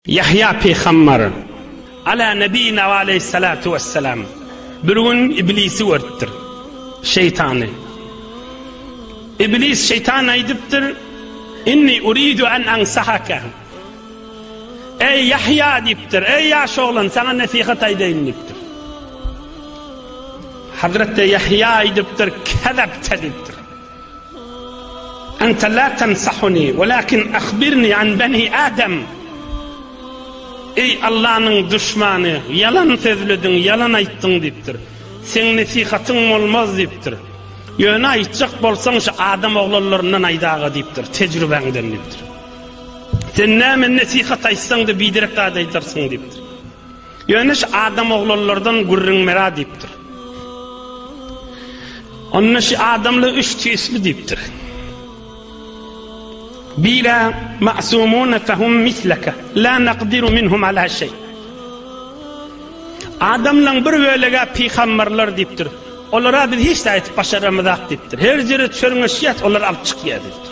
Ýahýa pygambar, Alâ nebiyina ve aleyhissalâtu vesselâm, bir gün Iblisi görüpdir, şeýtany. Iblis şeýtana aýdypdyr, Inni uridu en ansahaka. Eý Ýahýa diýipdir, eý ýaş oglan, saňa nesihat aýdaýyn diýipdir. Hazreti Ýahýa aýdypdyr, Kezepte diýipdir. Ente la tensahuni walakin ahbirni an beni Adem. Eý Allanyň duşmany, ýalan sözlediň, ýalan aýtdyň diýipdir. Seň nesihatyň bolmaz diýipdir. Ýöne aýtjak bolsaň şu adam oglanlaryndan aýdaga diýipdir, tejrübäňden diýipdir. Sen näme nesihat aýtsaň-da biderek zat aýdarsyň diýipdir. Ýöneş adam oglanlardan gürrüň mera diýipdir. Onda şu adamla üç tisli diýipdir. Bile ma'sumun fahum mislaka la naqdiru minhum ala şey. Adamlaň bir bölege pygamberler diýipdir. Olara biz hiç aýdyp başaramyzak diýipdir. Her ýere çörňeşýät, olar alyp çykýar diýipdir.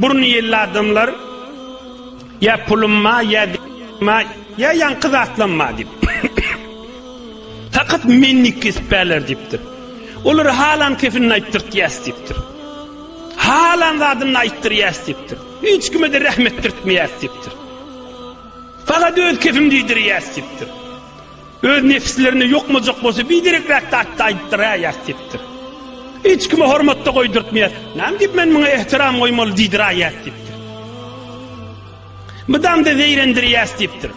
Burny ýelli adamlar ýa pulum ma ýa ma ýa ýaňky zatlam ma diýip. Takat menni kespäler diýipdir. Olar halan kefini aýtdyrt ýäs diýipdir. Halan zadyny aýtdyr ýäs diýipdir. Hiç kime de rahmet etdirtmeýäs diýipdir. Fakat öz kefim diýdir ýäs diýipdir. Öz nepslerinde ýokmajak bolsa biderekräk zat-da aýdypdyr-ä ýas diýipdir. Hiç kime hormat-da goýdurtmaýar. Näme diýip men muňa ähtiram goýmaly diýdir-ä ýas diýipdir. Mydam-da zeýrendir ýas diýipdir.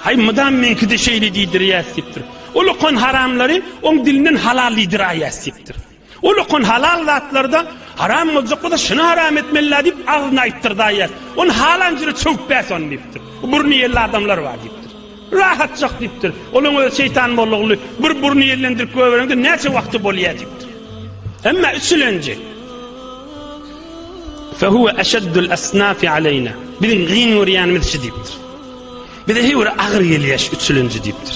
Haý mydam meňki-de şeýle diýdir ýas diýipdir. Ol okan haramlary oň dilinden halal diýdir-ä ýas diýipdir. Ol okan halal zatlarda haram boljak bolsa şyny haram etmelidä diýip agzyna aýtdyrdy aýas. Ony halan jüre çöwüp bäs ony diýipdir. Burny ýelli adamlar bar diýipdir. Rahatjak diýipdir. Olaň özi şeýtan mollaguly bir burny ýellendirip göbereňde näçe wagty bolýa diýipdir. Emma üçülenji Fehuve eşeddül esnafi aleyna. Biziň gyn görýänimiz şu diýipdir. Bize heýwere agyr gelýär şu üçülenji diýipdir.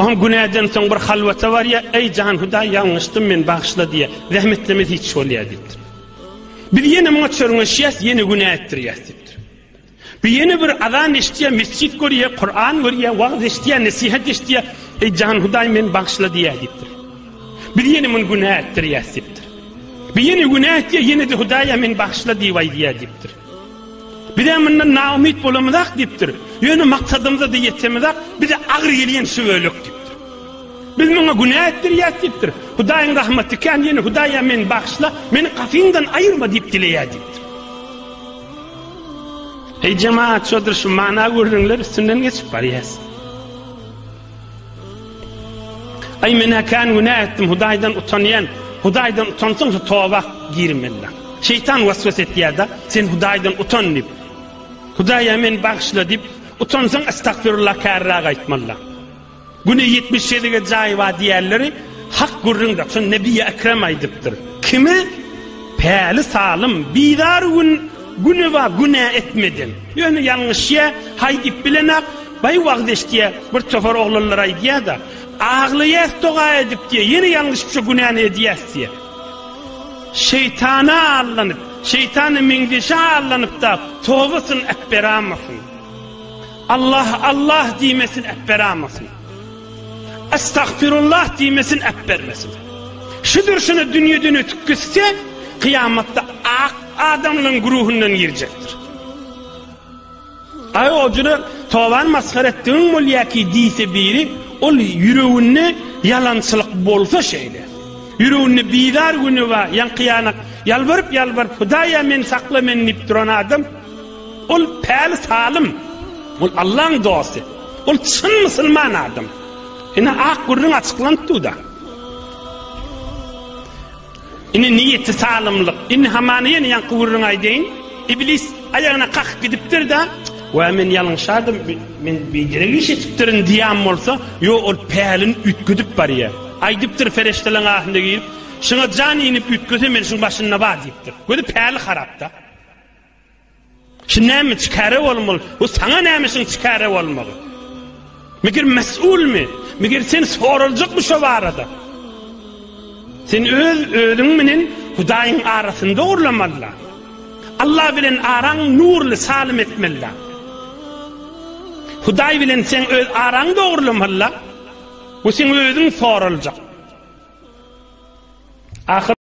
Oňa günäden soň bir halwata barýar, Eý jan Hudaý ýalňyşdym men bagyşla diýýär. Zähmetlemesi hiç bolýar diýipdir. Biz ýene muňa çörňeşýäs, ýene günä etdirýäs diýipdir. Bu ýene bir azan eşitýär, mesjit görýär, Kuran görýär, wagyz eşitýär, nesihat eşitýär, Eý jan Hudaý men bagyşla diýýär diýipdir. Biz ýene muny günä etdirýäs diýipdir. Bu ýene günä etýär, ýene-de Hudaýa men bagyşla diýip aýdýar diýipdir. Bizem mundan naumyt bolamyzak diýipdir. Ýöne maksadymyza-da ýetemizak, bize agyr gelýän şu bölek diýipdir. Biz muňa günä etdirýäs diýipdir. Hudaýyň rahmaty kän, ýöne Hudaýa meni bagyşla, meni gapyňdan aýyrma diýip dileýär diýipdir. Eý jemaat, şodur şu mana gürrüňler üstünden geçip barýas. Aý men äkän günä etdim Hudaýdan utanýan Hudaýdan utansaň şu toba girmeli. Şeýtan waswas etýärda sen Hudaýdan utan diýip. Hudaýa men bagyşla diýip utansaň astagfirullah kärräk aýtmaly. Güne 70 şelige jaýy bar diýerleri hak gürrüňde şun Nebi Ekrem aýdypdyr. Kimi päli salym bizar gün güne bar günä etmeden. Ýöne ýalňyşýa haý diýip bilenak Baý wagyz eşitýä, bir topar oglanlar aýdýa-da, Aglaýas doga edip diýýä, ýene ýalňyşypja günäni edýäs diýýä. Şeýtana allanyp, şeýtana meňzeşe allanyp-da, tobasyny äpberamasyn. Allah, Allah diýmesin, äpberamasyn. Estagfirullah diýmesin, äpbermesin. Şu dürşüne dünýeden ötüp gitse, kyýamatda ak adamlaryň güruhundan girjekdir. Aý ojuna tobany masgara etdigiň bolýaky diýse biri, ol ýüreginde ýalançylyk bolsa şeýle. Ýüreginde bizar günewa, ýaňky-ýanak, ýalbaryp ýalbaryp Hudaýa meni sakla meni diýip duran adam, ol päli salym, ol Allaň dosty, ol çyn musulman adam. Ine ak gürrüň açyklanypdyda. Ine niýeti salymlyk. Indi hamana ýene ýaňky gürrüňi aýdaýyn. Iblis aýagyna kakyp gidipdir-de, Wä, men ýalňyşardym, men biderek iş etipdirin diýen bolsa, ýok, ol pälini üýtgedip barýar. Aýdypdyr perişdeleriň ahyna girip, Şuňa jan iýnip üýtgese men şuň başynda bar diýipdir. Gözi päli harap-da. Şu näme çikare bolmaly? Bu saňa nämişiň çikare bolmagy? Meger mesulmy? Meger sen soraljakmy şo barada? Sen öz özüň bilen Hudaýyň arasynda urlamaly. Allah bilen araň nurly salim etmeli. Hudaý bilen sen öz araň dogrulamaly. Bu sen özüň soraljak. Ahyr